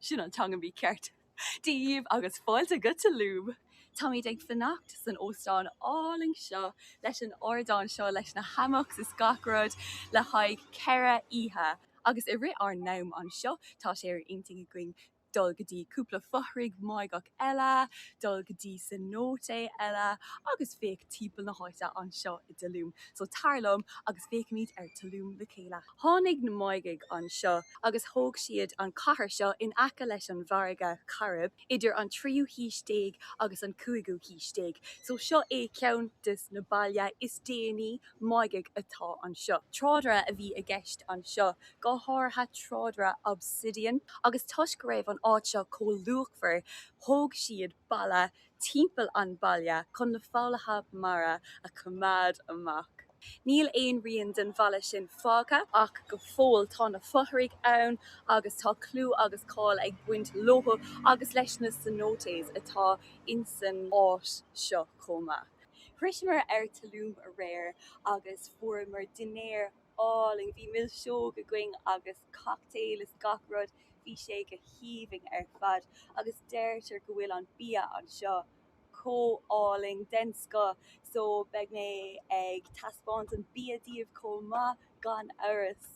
Sin an teanga mícheart daoibh agus fáilte go Tulum! Táimid ag fanacht san óstán álainn seo leis an ardán seo leis na hammocks is gach rud le haghaidh ceithre oíche agus i rith ár n-am anseo tá sé ar intinn againn dul go dtí cúpla fothrach Máigheach eile, dul go dtí cenote eile agus féach timpeall na háite anseo i dTulum. So tar liom agus féachfaimid ar Tulum le chéile! Tháinig na Máighigh anseo agus thóg siad an cathair seo in aice leis an bhfarraige Chairib idir an tríú haois déag agus an cúigiú haois déag. So seo é ceann des na bailte is déanaí Máighigh atá anseo. Trádáil a bhí i gceist anseo, go háirithe trádáil obsidian agus toisc go raibh an áit seo chomh luachmhar thóg siad balla timpeall an bhaile chun na foghlaithe mara a choimeád amach. Níl aon rian den bhalla sin fágtha ach go fóill tá na fothraigh ann agus tá clú agus cáil ag baint leo agus leis na cenotes atá insan áit seo chomh maith. Shroiseamar Tulum aréir agus fuaireamar dinnéar álainn. Bhí milseog againn agus. cocktail is gach rud, bhí sé go haoibhinn ar fad agus deirtear go bhfuil an bia anseo chomh álainn, den scoth, so beidh mé ag taispeáint an bia daoibh chomh maith gan amhras!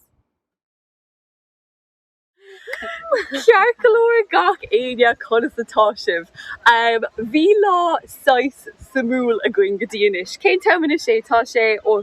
Ceart go leor gach éinne, conas atá sibh? Bhí lá saghas suimiúil againn go dtí anois. Cén t-am anois é? Tá sé, oh,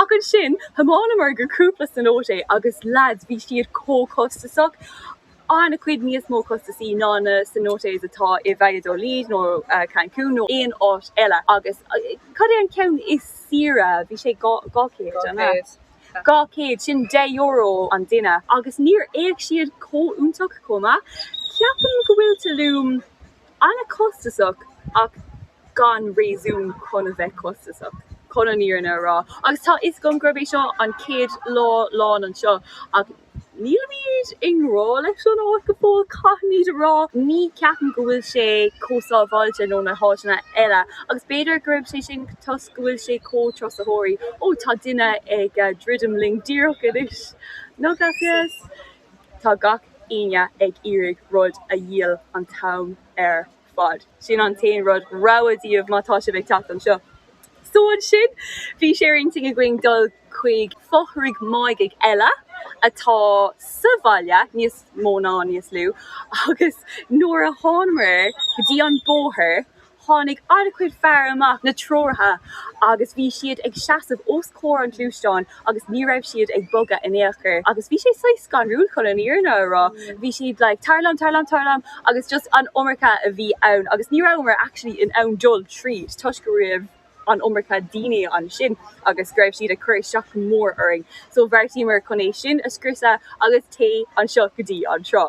Ach ansin thiomáineamar go cúpla cenote agus leaids, bhí siad chomh costasach, an-chuid níos mó costasaí ná na cenotes atá i Valladolid nó Cancún nó aon áit eile agus cad é an ceann is saoire, bhí sé dhá chéad, an ea? Dhá chéad. Dhá chéad, sin deich euro an duine agus níor fhéach siad chomh iontach chomh maith. Ceapaim go bhfuil Tulum. An-chostasach ach gan réasún chun a bheith costasach, chun an fhírinne a rá. Agus tá a fhios agam gurb é seo an chéad lá lán anseo ach nílimid i ngrá leis an áit go fóill, caithfimid a rá. Ní cheapaim go bhfuil sé chomh sábháilte nó na háiteanna eile agus b'fhéidir gurb é sin toisc go bhfuil sé chomh turasóirí. Ó, tá duine ag druidim linn díreach anois. No gracias. Tá gach aoinne ag iarraidh rud a dhíol an t-am ar fad. Sin an t-aon rud. Rabhadh daoibh má tá sibh ag teacht anseo. So ansin bhí sé ar intinn againn dul chuig fothraigh máigigh eile atá sa bhaile, níos mó ná níos lú, agus nuair a thánamar go dtí an bóthar Tháinig an-chuid fear amach na treoraithe agus bhí siad ag seasamh os comhair an gluaisteáin agus ní raibh siad ag bogadh in aon chor agus bhí sé saghas scanrúil chun an fhírinne a rá. Bhí siad like tar liom tar liom tar liom agus just an iomarca a bhí ann agus ní rabhamar actually in ann dul tríd toisc go raibh an iomarca daoine ansin agus go raibh siad ag cur isteach go mór orainn so bheartaíomar chun é sin a scriosadh agus téigh anseo go dtí an trá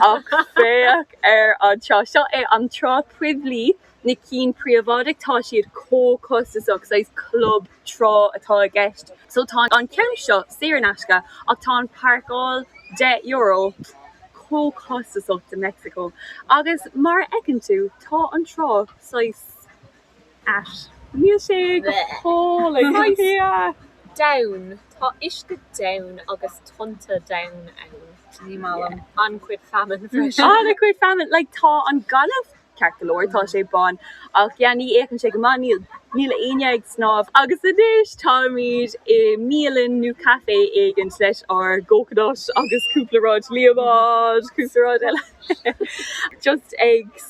ach féach ar an trá, seo é an trá poiblí, na cinn príobháideach tá siad chomh costasach, saghas club trá atá i gceist so tá an ceann seo saor in aisce ach tá an páirceáil deich euro, chomh costasach do Mexico agus mar a fheiceann tú tá an trá saghas. ait. Níl sé go hálainn. Donn. Tá uisce donn agus tonnta donn ann. Ní maith liom. An-chuid feamainn freisin. An-chuid feamainn. Like, tá an gaineamh ceart go leor, tá sé bán, ach yeah, ní fhéachann sé go maith, níl, níl éinne ag snámh. Agus anois táimid i mbialann nó café éigint leis ár gcoconuts agus cúpla rud, líomanáid, cúpla rud eile. Just ag.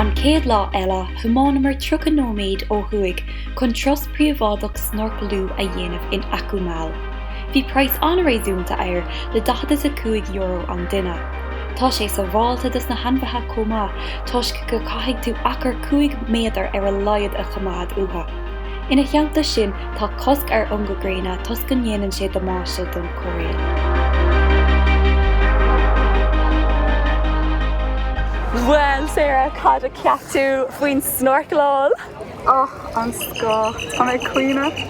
An chéad lá eile thiománamar 30 nóiméad ó thuaidh chun turas príobháideach snorcallú a dhéanamh in Akumal. Bhí praghas an-réasúnta air le daichead is a cúig euro an duine. Tá sé sabháilte dos na hainmhithe chomh maith toisc go caithfidh tú achar cúig méadar ar a laghad a choimeád uathu. Ina theannta sin, tá cosc ar ungadh gréine toisc go ndéanann sé damáiste don choiréal. Bhuel Sarah, cad a cheap tú faoin snorcláil? Ach den scoth! Tá mé ag caoineadh!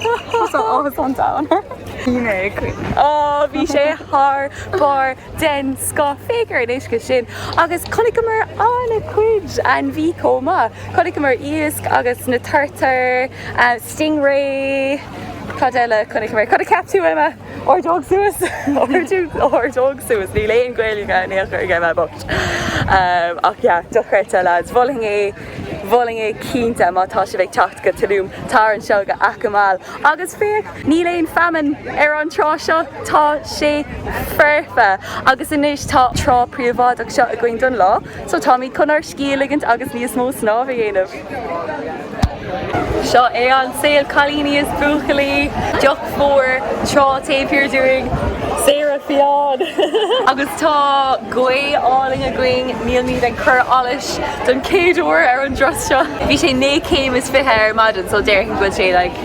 Tá áthas an domhain orm. Bhí mé ag caoineadh. Ó, bhí sé thar barr! den scoth. Féach ar an uisce sin! Agus chonaiceamar an-chuid ainmhí chomh maith. Chonaiceamar iasc agus na turtair, stingray, cad eile a chonaiceamar? Cad a cheap tú Emma? Ordóg suas? Ordóg suas, níl aon Ghaeilge in aon chor ag Emma bocht. Ach yeah, dochreidte lads, mholfainn é. mholfainn é cinnte má tá sibh ag teacht go Tulum, tar anseo go Akumal agus féach, níl aon feamainn ar an trá seo, tá sé foirfe! Agus anois tá trá príobháideach seo againn don lá so táimid chun ár scíth a ligint agus níos mó snámh a dhéanamh! Seo é an saol cailíní is buachaillí! Fuair trá taobh thiar dúinn. Saghas fiáin! Agus tá gaoth álainn againn, nílimid ag cur allais don chéad uair ar an dturas seo. Bhí sé naoi céim is fiche ar maidin so déarfainn go bhfuil sé like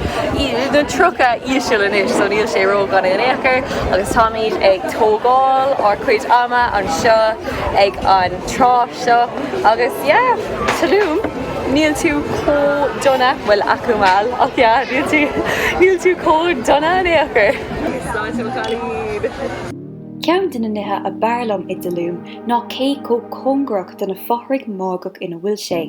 na tríocha íseal anois so níl sé ró-dhona in aon chor agus táimid ag tógáil ár cuid ama anseo ag an trá seo agus yeah, Tulum! Níl tú chomh dona, bhuel Akumal, ach yeah, níl tú, níl tú chomh dona in aon chor. Sláinte mo chailín! Ceann de na nithe ab fhearr liom i dTulum ná cé chomh cóngarach do na fothraigh Máigheach ina bhfuil sé.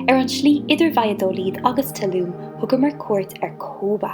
Ar an tslí idir Valladolid agus Tulum thugamar cuairt ar Cobá.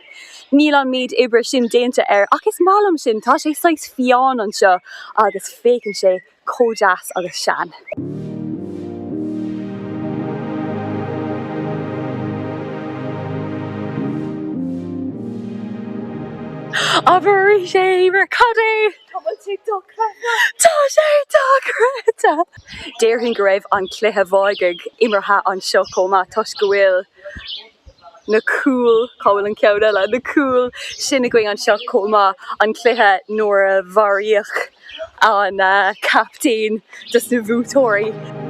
Níl an méid oibre sin déanta air ach is maith liom sin, tá sé saghas fiáin anseo agus féachann sé chomh deas agus sean. Abair arís é, Éimear, cad é? Tá sé dochreidte! Tá sé dochreidte! Déarfainn go raibh an cluiche Mháighigh imeartha anseo chomh maith toisc go bhfuil. na cúil, cá bhfuil an ceann eile? na cúil sin againn anseo chomh maith, an cluiche nuair a mharaíodh an captaen des na bhuaiteoirí.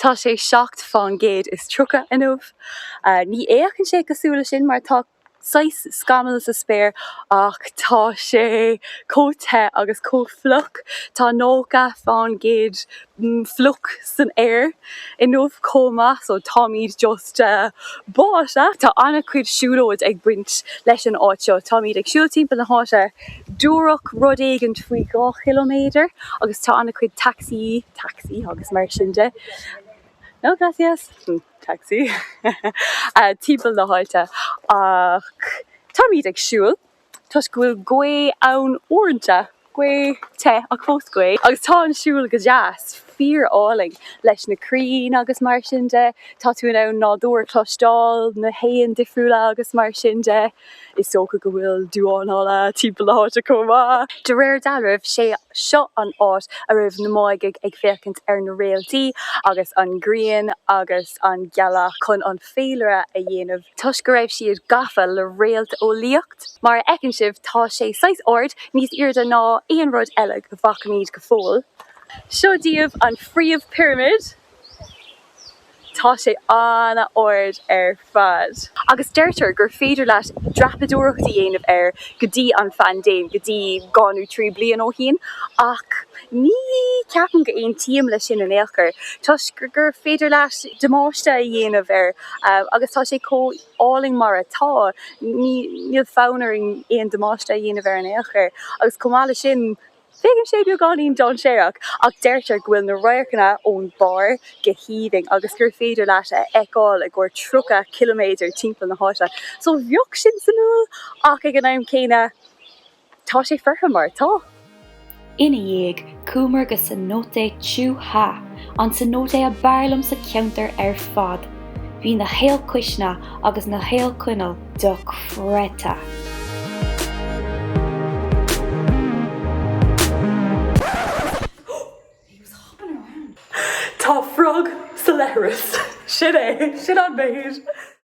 Tá sé seacht faoin gcéad is tríocha inniu. Ní fhéachann sé cosúil leis sin mar tá saghas scamall sa spéir ach tá sé chomh te agus chomh fliuch. Tá nócha faoin gcéad fliuch san aer inniu chomh maith so táimid just. báite, tá an-chuid siúlóid ag baint leis an áit seo. Táimid ag siúl timpeall na háite díreach, rud éigint faoi dhá chiliméadar, agus tá an-chuid taxi, tacsaí agus mar sin de, no gracias, tacsaí, timpeall na háite. Ach táimid ag siúl. toisc go bhfuil gaoth ann uaireanta, gaoth te ach fós gaoth agus tá an siúl go deas, fíor álainn leis na crainn agus mar sin de, tá tú in ann nádúr a chloisteáil, na héin difriúla agus mar sin de. Is dócha go bhfuil damháin alla timpeall na háite chomh maith. De réir dealraimh sé seo an áit a raibh na Máighigh ag féachaint ar na réaltaí agus an ghrian agus an ghealach chun an. féilire a dhéanamh toisc go raibh siad gafa le réalteolaíocht. Mar a fheiceann sibh tá sé saghas ard, níos airde ná aon rud eile go bhfacaimid go fóill. Seo daoibh an phríomhphirimid. Tá sé an-ard ar fad. Agus deirtear gur féidir leat dreapadóireacht a dhéanamh air go dtí an phaindéim, go dtí dhá nó trí bliain ó shin. Ach Ní cheapaim go aontaím le sin in ao'chor toisc gur féidir leat damáiste a dhéanamh air agus tá sé chomh álainn mar atá. Níl fonn orainn aon damáiste a dhéanamh air in ao'chor agus chomh maith leis sin féachann sé beagáinín dainséarach ach deirtear go bhfuil na radharcanna ón barr go haoibhinn agus gur féidir leat a fheiceáil i gcomhair 30 ciliméadar timpeall na háite so bheadh sin suimiúil ach ag an am céanna Tá sé foirfe mar atá. Ina dhiaidh, chuamar go Cenote Choo-ha, an cenote ab fhearr liom sa cheantar ar fad. Bhí na haolchuisní agus na haolchoinnle dochreidte. Tá frog sa leithreas. Sin é. Sin an méid.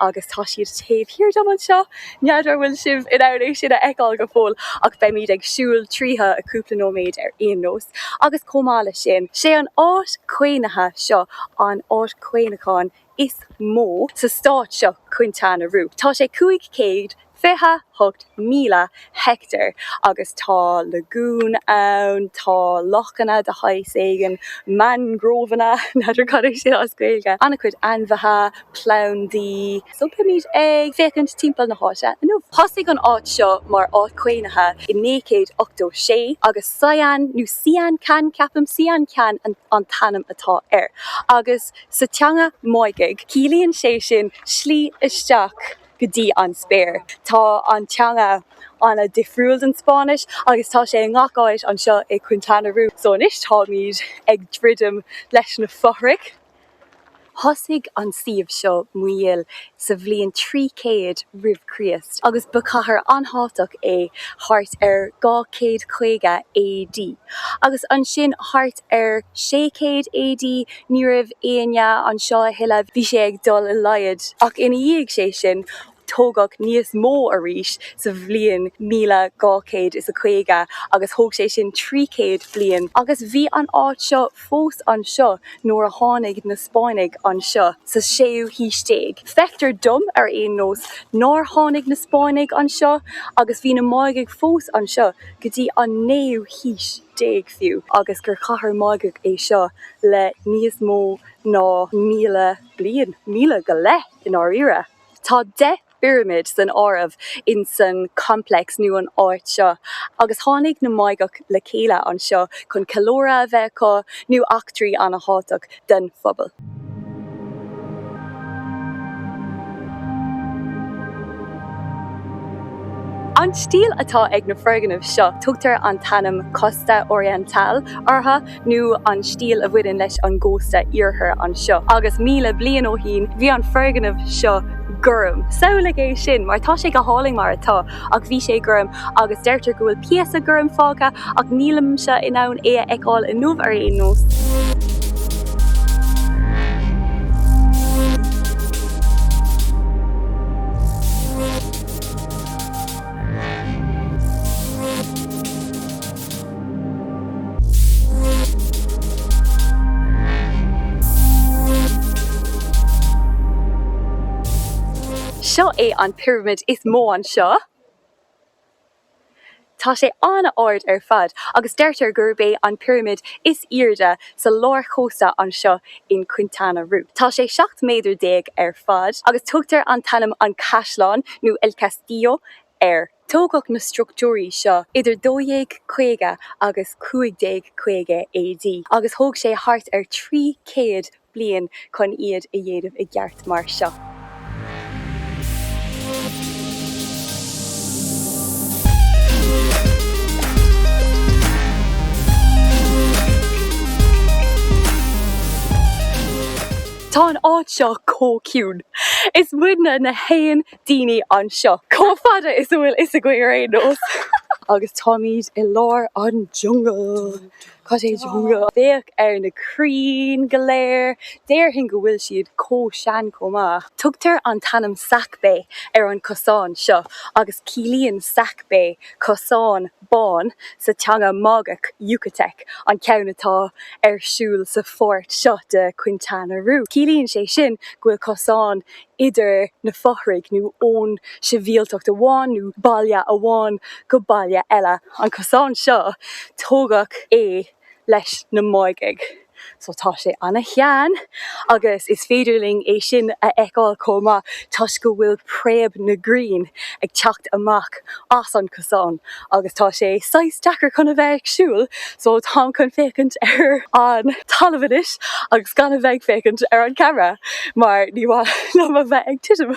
agus tá siad taobh thiar dom anseo. N'fheadar an bhfuil sibh in ann é sin a fheiceáil go fóill ach beimid ag siúl tríothu i gcúpla nóiméad ar aon nós agus chomh maith leis sin, 'sé an áit chaomhnaithe seo an áit chaomhnacháin is mó sa stát seo, Quintana Roo. Tá sé 500 28,000 heicteár agus tá lagúin ann, tá lochanna de shaghas éigin, mangróvanna, n'fheadar cad é sé as Gaeilge, an-chuid ainmhithe, plandaí, so beimid ag féachaint timpeall na háite inniu. Thosaigh an áit seo mar áit chaomhnaithe i 1986 agus Sian nó Sian Ka'an ceapaim, Sian Ka'an an t-ainm atá air agus sa teanga Máighigh ciallaíonn sé sin slí isteach. go dtí an spéir. Tá an teanga an-difriúil ón Spáinnis agus tá sé i ngach áit anseo i Quintana Roo. So anois táimid ag druidim leis na fothraigh. Thosaigh an suíomh seo Muyil sa bhliain 300 roimh Chríost agus ba chathair an-thábhachtach é thart ar 250 AD agus ansin thart ar 600 AD ní raibh éinne anseo a thuilleadh, bhí sé ag dul i laghad, ach ina dhiaidh sé sin tógadh níos mó arís sa bhliain míle dhá chéad is a caoga agus thóg sé sin trí chéad bliain agus bhí an áit seo fós anseo nuair a tháinig na Spáinnigh anseo sa séú haois déag. Feictear dom ar aon nós nár tháinig na Spáinnigh anseo agus bhí na Máighigh fós anseo go dtí an naoú haois. déag fiú, agus gur chathair Mháigheach é seo le níos mó ná míle bliain, míle go leith i ndáiríre. Tá deich bpirimid san áireamh insan complex nó an áit seo, agus tháinig na Máighigh le chéile anseo chun ceiliúradh a bheith acu nó eachtraí ana-thábhachtach den phobal. An stíl atá ag na foirgnimh seo, tugtar an t-ainm Costa Oriental orthu, nó an stíl a bhaineann leis an gcósta oirthir anseo, agus míle bliain ó shín bhí an foirgneamh seo gorm. Samhlaigh é sin, mar tá sé go hálainn mar atá. Ach bhí sé gorm agus deirtear go bhfuil píosa gorm fágtha ach nílimse in ann é a fheiceáil inniu ar aon nós. Seo é an pirimid is mó anseo. Tá sé an-ard ar fad agus deirtear gurb é an pirimid is airde sa lárchósta anseo in Quintana Roo. Tá sé 17 méadar ar fad agus tugtar an t-ainm An Caisleán nó El Castillo air. Tógadh na structúirí seo idir 1250 agus 1550 AD agus thóg sé thart ar 300 bliain chun iad a dhéanamh i gceart mar seo. Tá an áit seo chomh ciúin. Is muidne na haon daoine anseo. Chomh fada is a bhfuil a fhios againn ar aon nós. Agus táimid i lár an jungle. Cad é jungle? Féach ar na crainn go léir. Déarfainn go bhfuil siad chomh sean chomh maith. Tugtar an t-ainm Sacbé ar an cosán seo agus ciallaíonn Sacbé cosán bán sa teanga Máigeach, Yucatec, an ceann atá ar siúl sa pháirt seo de Quintana Roo. Ciallaíonn sé sin go bhfuil cosán idir na fothraigh nó ón sibhialtacht amháin nó baile amháin go baile eile. An cosán seo, tógadh é leis na Máigigh so tá sé ana-shean agus is féidir linn é sin a fheiceáil chomh maith toisc go bhfuil préamh na gcrainn ag teacht amach as an gcosán agus tá sé saghas deacair chun a bheith ag siúl so táim chun féachaint ar an talamh anois agus gan a bheith ag féachaint ar an camera mar ní ba mhaith liom a bheith ag titim.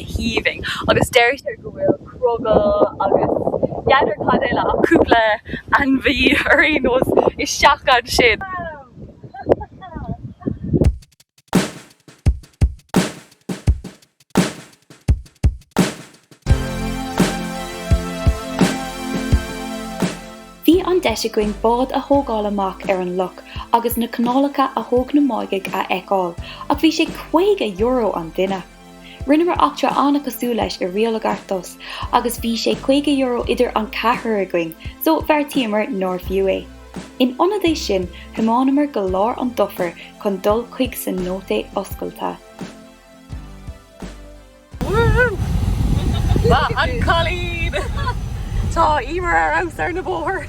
haoibhinn agus deirtear go bhfuil crogall agus n'fheadar cad eile ach cúpla ainmhí ar aon nós isteach ansin. Bhí an deis againn bád a thógáil amach ar an loch agus na canálacha a thóg na Máigigh a fheiceáil ach bhí sé €50 an duine! Rinneamar eachtra an-chosúil leis i Rio Lagartos agus bhí sé caoga euro idir an ceathrar againn, so bheartaíomar nár bhfiú é. In ionad é sin, thiománamar go lár an dufair chun dul chuig cenote oscailte. Maith an cailín! Tá Emer ar fheabhas ar na bóithre!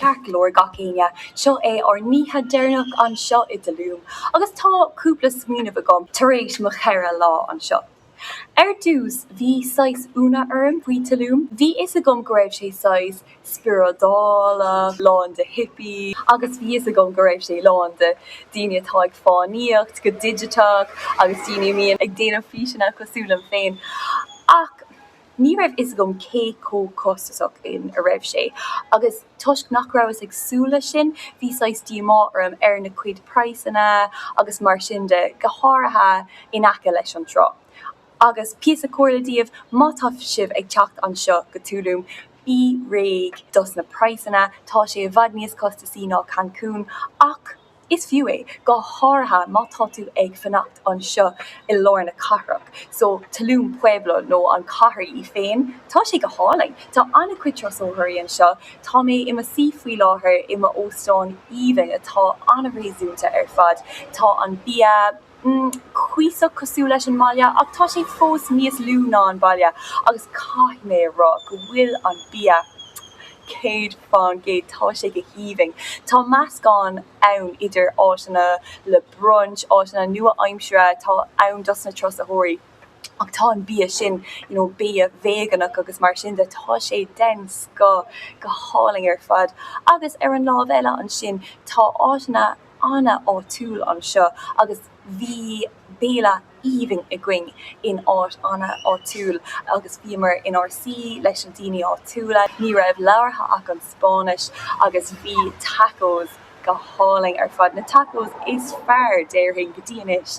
Ceart go leor gach éinne, seo é ár n-oíche deireanach anseo i dTulum agus tá cúpla smaoineamh agam tar éis mo cheithre lá anseo. Ar dtús, bhí saghas ionadh orm faoi Tulum. Bhí fhios agam go raibh sé saghas spioradálach, lán de hippies agus bhí fhios agam go raibh sé lán de daoine atá ag fánaíocht go digiteach agus daoine a mbíonn ag déanamh físeanna cosúil liom féin ach, Ní raibh fhios agam cé chomh costasach is a raibh sé, agus toisc nach rabhas ag súil leis sin, bhí saghas díomá orm ar na cuid praghsanna agus mar sin de, go háirithe in aice leis an trá. Agus píosa comhairle daoibh, má tá sibh ag teacht anseo go Tulum, bí réidh dos na praghsanna, tá sé i bhfad níos costasaí ná Cancun, ach. Is fiú é, go háirithe má tá tú ag fanacht anseo i lár na cathrach, so Tulum Pueblo nó an chathair í féin, tá sé go hálainn. Tá an-chuid trusaitheoirí anseo. Tá mé i mo suí faoi láthair i m'óstán aoibhinn atá an-réasúnta ar fad. Tá an bia. cuíosach cosúil leis an mbaile ach tá sé fós níos lú ná an baile agus caithfidh mé a rá go bhfuil an bia céad fán gcéad, tá sé go haoibhinn. Tá meascán ann idir áiteanna le brunch, áiteanna nua-aimseartha atá ann dos na trusaitheoirí ach tá an bia sin you know bia véaganach agus mar sin de, tá sé den scoth, go hálainn ar fad agus ar an lámh eile ansin tá áiteanna. an-áitiúil anseo agus bhí béile aoibhinn againn in áit an-áitiúil agus bhíomar inár suí leis na daoine áitiúla. Ní raibh labhartha ach an Spáinnis agus bhí tacos go hálainn ar fad, na tacos is fearr, déarfainn, go dtí anois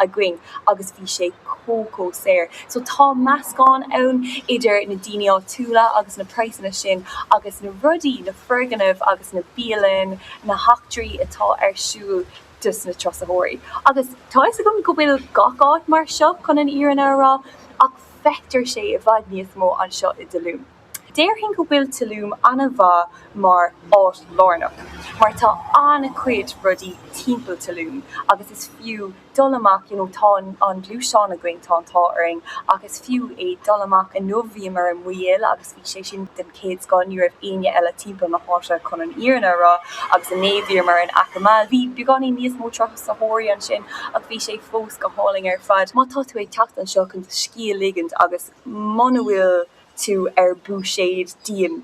againn agus bhí sé chomh chomh saor. So tá meascán ann idir na daoine áitiúla agus na praghsanna sin agus na rudaí, na foirgnimh agus na bialainn, na heachtraí atá ar siúl dos na turasóirí agus tá fhios agam go bhfuil gach áit mar seo chun an fhírinne a rá ach feictear sé i bhfad níos mó anseo i dTulum. Déarfainn go bhfuil Tulum an-mhaith mar áit lárnach mar tá an-chuid rudaí timpeall Tulum agus is fiú dul amach you know tá an gluaisteán againn tá an t-ádh orainn ach is fiú é dul amach inniu bhíomar i Muyil agus bhí sé sin den chéad scoth ní raibh éinne eile timpeall na háite chun an fhírinne a rá agus inné bhíomar in Akumal bhí beagáinín níos mó turasóirí ansin ach bhí sé fós go hálainn ar fad má tá tú ag teacht anseo chun scíth a ligint agus muna bhfuil tú ar búiséad dian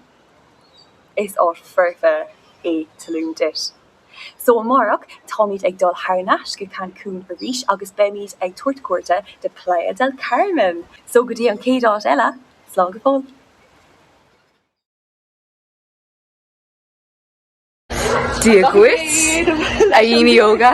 is áit foirfe é Tulum duit. So amárach táimid ag dul thar nais go Cancun arís agus beimid ag tabhairt cuairte de Playa del Carmen! So go dtí an chéad áit eile, slán go fóill! Dia dhuit, a dhaoine óga!